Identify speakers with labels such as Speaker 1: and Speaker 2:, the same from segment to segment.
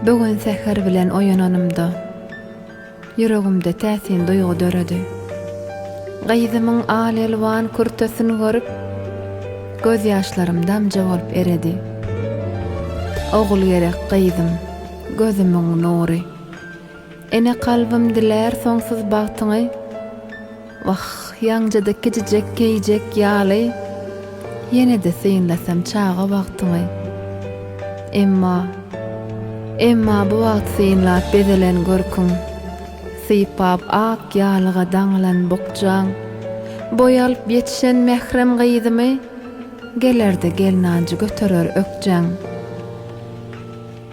Speaker 1: Bu gün säher bilen oýananymda, ýüregimde täsin duýgy döredi. Gyzymyň al-elwan kürtesini görüp, gözýaşlarym damja bolup eredi. Ogul gerek gyzym, gözümiň nury. Ene kalbym dilär soňsuz bagtyňy, Wah, ýaňjada kijijek geýjek ýaly, Ýene-de synlasam çaga wagtyňy. Emma, emma bu wagt synlap bezelen görküň, Sypap ak ýalyga daňylan bukjaň, Boý alyp ýetişen mährem gyzymy, Geler-de gelnanjy göterer ökjaň.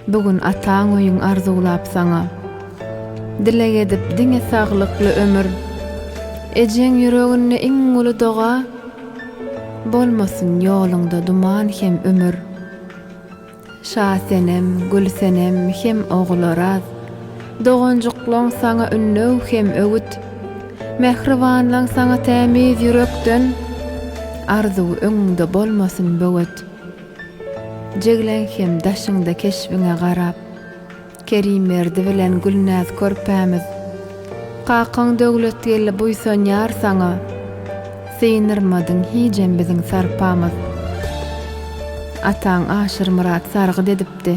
Speaker 1: Bu gün ataň öýüň arzuwlap saňa Dileg edip diňe saglykly ömür Ejeň ýüreginde iň uly doga Bolmasyn ýoluňda duman hem ümür Şasenem, Gülsenem hem Oguloraz Doganjyklaň saňa ünnäw hem öwüt Mähribanlaň saňa tämiz ýürekden Arzuw öňüňde bolmasyn böwet. Jigleň hem daşyňda keşbiňe garap, Kerimberdi bilen Gülnäz körpämiz. Kakaň Döwletgeldi buýsanýar saňa, Synyrmadyň hijem biziň sarpamyz. Ataň Aşyrmyrat sargyt edipdi.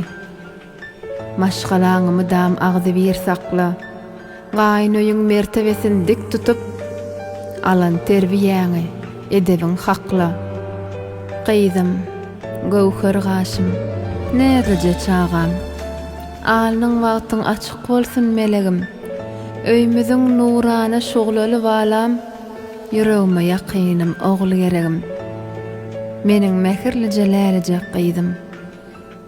Speaker 1: Maşgalaňy mydam agzybir sakla. Gaýyn öýüň mertebesini dik tutup, alan terbiýäňi, edebiň hakla. Gyzym, göwher gaşym, näzlije çagam. Alnyň bagtyň açyk bolsun melegim. Öýmüziň nurana şuglaly balam, ýüregime ýakynym, ogulgeregim. Meniň mähirlije lälejek gyzym.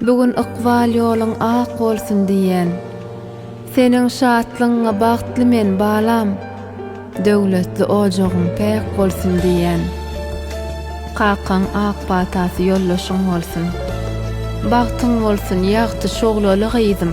Speaker 1: Bu gün ykbal ýoluň ak bolsun diýýän. Seniň şatlygyňa bagtly men, balam. Döwletli ojagyň päk bolsun diýýän. Kakaň ak patasy ýoldaşyň bolsun. Bagtyň bolsun, ýagty şuglaly gyzym.